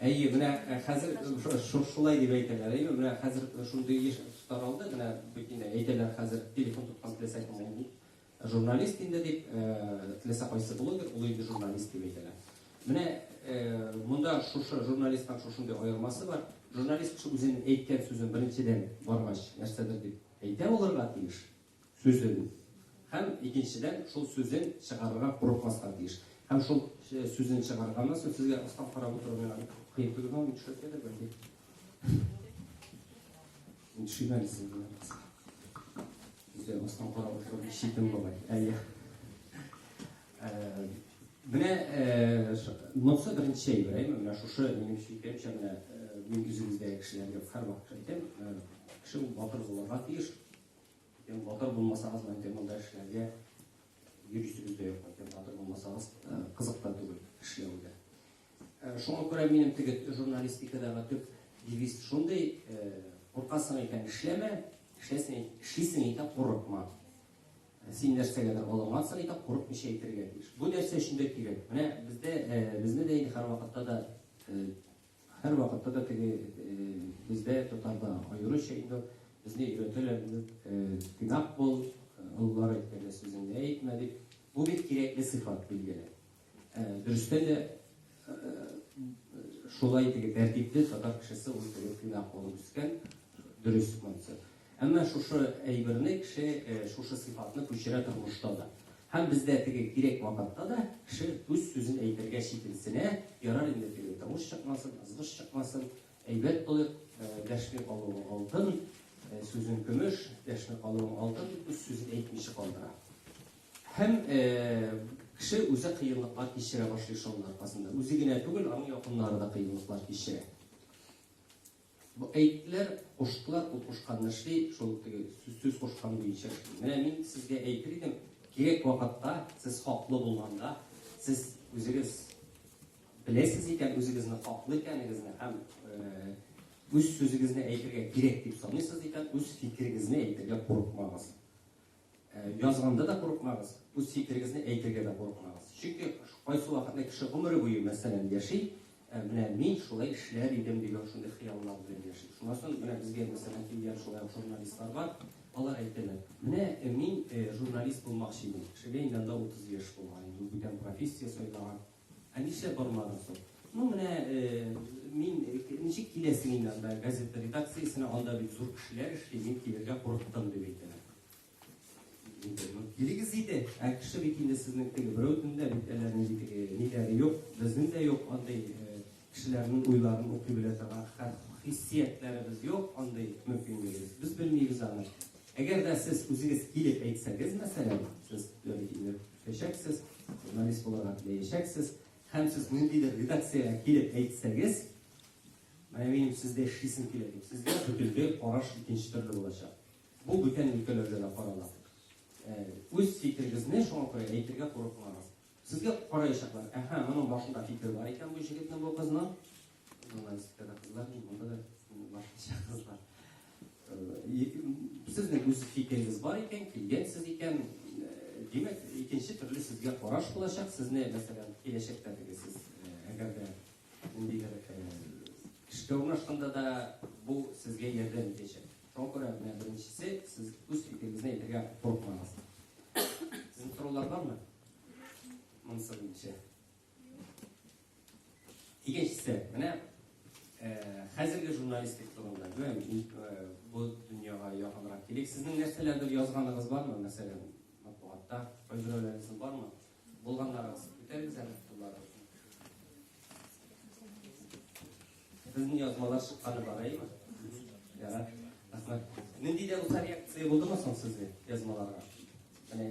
Әйе, менә э, хәзер э, шулай дип әйтәләр. Әйе, менә хәзер э, шундый еш таралды, менә бөтенләй әйтәләр хәзер телефон тоткан теләсә кем ул журналист инде дип, теләсә кайсы блогер ул инде журналист дип әйтәләр. Менә монда шушы журналистның шушындый аермасы бар. Журналист кеше үзенең әйткән сүзен беренчедән баргач, нәрсәдер дип әйтә булырга тиеш. сүзен һәм, икенчедән, шул сүзен чыгарырга курыкмаска тиеш. Һәм шул сүзен чыгарганнан соң сезгә астан карап утыру миңа бик кыен тоела, мин төшереп дә белмим. Мин төшермә дисем генә булса. Үзгә астан карап утырып ишетем болай. Әйе. Менә монысы беренче әйбер, әйме? Менә шушы минем фикеремчә, менә мин үзегездәге кешеләргә һәрвакыт әйтәм, кеше ул батыр булырга тиеш, Икән, батыр булмасагыз, мәңге монда эшләргә йөз йөзегез дә юк. Икән, батыр булмасагыз, кызык та түгел эшләү дә. Шуңа күрә минем теге журналистикадагы төп девиз шундый, куркасың икән, эшләмә, эшләсең, эшлисең икән, курыкма. Син нәрсәгәдер алынгансың икән, курыкмыйча әйтергә тиеш. Бу нәрсә өчен дә кирәк. Менә бездә безне дә инде һәрвакытта да Һәрвакытта да теге бездә татарда аеруча инде безне өйрәтәләр инде тыйнак бул, олылар әйткәндә сүзеңне әйтмә дип. Бу бик кирәкле сыйфат билгеле. Дөрестән дә шулай теге тәртипле татар кешесе ул теге тыйнак булып үскән, дөрес монысы. Әмма шушы әйберне кеше, шушы сыйфатны күчерә тормышта да. Һәм бездә теге кирәк вакытта да кеше үз сүзен әйтергә читенсенә, ярар инде теге тавыш чыкмасын, ызгыш чыкмасын, әйбәт булыйк, дәшми калуың алтын, сүзең көмеш, дәшми калуың алтын дип үз сүзен әйтмичә калдыра. Һәм кеше үзе кыенлыклар кичерә башлый шуның аркасында. Үзе генә түгел, аның якыннары да кыенлыклар кичерә. Бу әйтләр куштылар, ут кушканны эшли, шул теге сүз кушкан буенча эшли. Менә мин сезгә әйтер идем, кирәк вакытта, сез хаклы булганда, сез үзегез беләсез икән, үзегезне хаклы икәнегезне һәм үз сүзегезне әйтергә кирәк дип саныйсыз икән, үз фикерегезне әйтергә курыкмагыз. Язганда да курыкмагыз, үз фикерегезне әйтергә дә курыкмагыз. Чөнки кайсы вакытны кеше гомере буе, мәсәлән, яши, менә мин шулай эшләр идем дигән шундый хыяллар белән яши. Шуннан соң менә безгә мәсәлән килгән шулай журналистлар бар, алар әйтәләр, менә мин журналист булмакчы идем. Кешегә инде анда 30 яшь булган, инде бүтән профессия сайлаган. Ә нишләп бармадың соң? Ну, менә мин ничек киләсең инде анда газета редакциясенә, анда бит зур кешеләр эшли, мин килергә курыктым дип әйтәләр. Килегез иде, ә кеше бит инде сезнең теге берәүнең дә бит әллә нинди ниләре юк, безнең дә юк андый кешеләрнең уйларын укый белә торган хәл хиссиятләребез юк, андый мөмкинлегебез. Без белмибез аны. Әгәр дә сез үзегез килеп әйтсәгез, мәсәлән, сез Итәчәксез, журналист булырга теләячәксез, һәм сез ниндидер редакциягә килеп әйтсәгез, менә минем сездә эшлисем килә дип, сезгә бөтенләй караш икенче төрле булачак. Бу бүтән өлкәләрдә дә карала. Э, үз фикерегезне шуңа күрә әйтергә курыкмагыз. Сезгә караячаклар, әһә, моның башында фикер бар икән бу җегетнең, бу кызның, Сезнең үз фикерегез бар икән, килгәнсез икән, димәк, икенче төрле сезгә караш булачак, сезне, мәсәлән, киләчәктә дигесез, әгәр дә ниндидер кешегә урнашканда да бу сезгә ярдәм итәчәк. Шуңа күрә менә беренчесе, сез үз фикерегезне әйтергә курыкмагыз. Сезнең сораулар бармы? Монысы буенча. Икенчесе, менә хәзерге журналистик турында, бу дөньяга якынрак килик. Сезнең нәрсәләрдер язганыгыз бармы, мәсәлән, матбугатта, файзурәләрегез бармы? Булганнарыгыз, үтәрегез әле тулары. Безнең язмалар чыкканы бар, әйме? Ярар. Рәхмәт. Нинди дә булса реакция булдымы соң сезгә язмаларга?